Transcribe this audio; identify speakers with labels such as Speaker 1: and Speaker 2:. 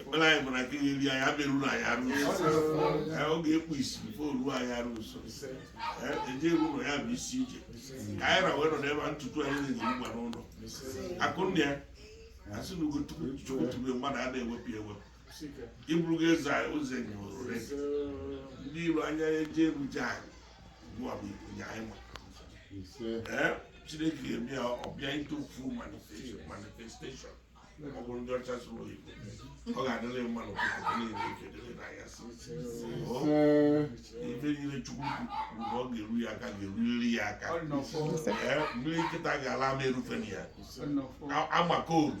Speaker 1: ekpere anyị bụ na nke ga-eri anyị ama eru anyị arụ ọ ga-ekpu isi before o ruo anyị arụ nso eje eru ụlọ ya bụ isi ije ka anyị ra wee nọ n'ebe a n'ụtụtụ anyị na-eji ngwa n'ụlọ akụnna ya asị na ugo chukwu tube mmadụ a na-ewepụ ewepụ ịbụrụgo eze ụzọ enyi ndị iro anya eje eruja anyị chineke ga-eme ya ọ bịa into full manifestation ọ bụrụ ndị ọcha sụrụ oyibo ọ ga-adịrị mma n'ụtụtụ niile ife dịrị na ya si ife niile chukwu kwuru na ọ ga-eru ya aka ga-eruriri ya aka mmiri nkịta ga-ala ama erufe na ya amaka oru